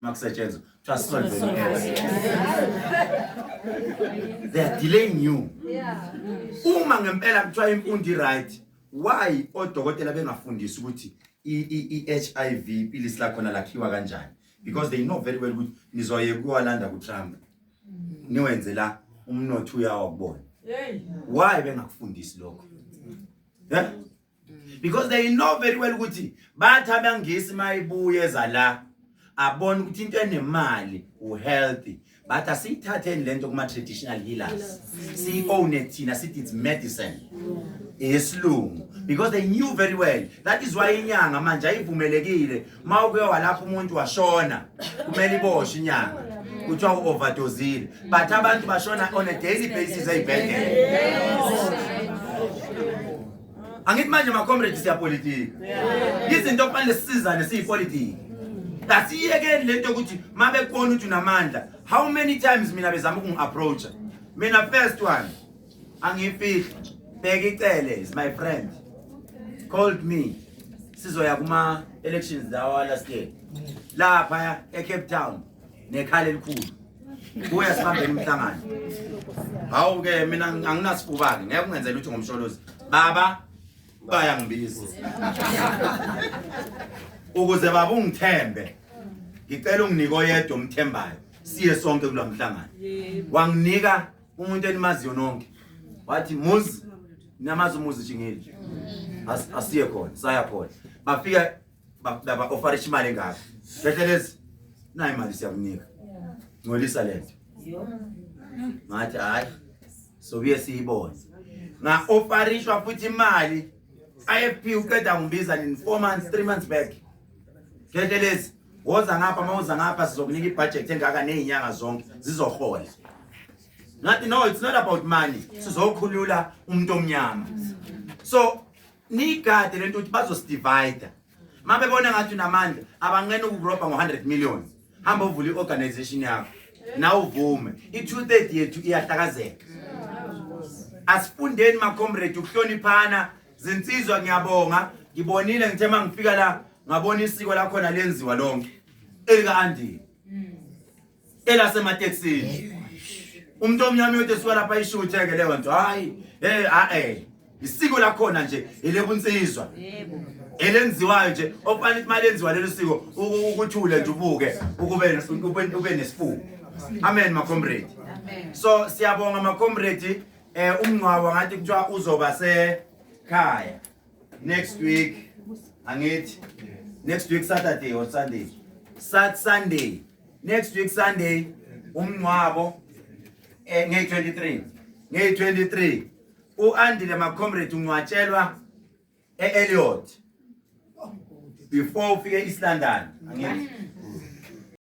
makusetshenzwa kuthiwa solve they are delaying you uma ngempela kuthiwa imfundo i-right why odokotela bengafundisi ukuthi i-hiv ipilisi lakhona lakhiwa kanjani because they know very well ukuthi nizoye kuwalanda kutrump niwenze la umnotho uyawa kubona why bengakufundisi lokho yeah? mm. because they know very well ukuthi bathi abangisi mayibuye za la abona ukuthi into enemali uhealthy but asiyithatheni lento kuma traditional healers siyi-owne thina sithi it's medicine yesilungu because they knew very well that is why inyanga manje ayivumelekile uma uke walapha umuntu washona kumele iboshwe inyanga kuthiwa u-overdozile but abantu bashona on a daily basis ey'bhedlela angithi manje macomrade siyapolitiki izinto okufanele sisizane siyipolitiki asiyekeni le nto yokuthi uma bekubona ukuthi unamandla how many times mina bezama ukungi-approacha mina first one angifihli bheka icele is my friend called me sizoya kuma elections lawa last year lapha eCape Town nekhala elikhulu kuya sibambela umhlangano hawu ke mina anginasifubani ngeke ungenzele ukuthi ngomsholozi baba baya ngibizi ukuze baba ungithembe ngicela unginike oyedwa omthembayo siye sonke kulamhlangano wanginika umuntu enimaziyo nonke wathi muzi namazi umuzi jingeli asiye khona saya khona bafika laba ofara imali engaka hlehlelezi nayi imali siyakunika ngcolisa lento ngathi hayi sobuye siyibone nga ofarishwa futhi imali IFP uqeda ngibiza in 4 months 3 months back Ketelezi woza ngapha uma uza ngapha sizokunika ibudget engaka nezinyanga zonke zizohola. Ngathi no it's not about money sizokhulula umuntu omnyama. So nigade lento ukuthi bazosdivide. Mabe bona ngathi unamandla abanqena ukurobha ngo 100 million. Hamba uvula iorganization yakho. Na uvume. I 230 yethu iyahlakazeka. Asifundeni ma comrade ukuhloniphana Zinsizwa ngiyabonga ngibonile ngithe mangifika la ngabona isiko lakhona lenziwa lonke elika Andy elasemateksini umuntu omnyama yode suka lapha ishuthe ke leyo nto hayi hey a eh isiko lakhona nje elebunsizwa yebo elenziwayo nje okufanele ukuthi malenziwa lelo siko ukuthule nje ubuke ukube ube nesifuba amen ma comrade so siyabonga ma comrade eh umngcwabo ngathi kuthiwa uzoba sekhaya next week angithi next week saturday or sunday sat sunday next week sunday umngcwabo eh nge 23 nge 23 uandile macomrade ungcwatshelwa e-eliot before ufike east london angithi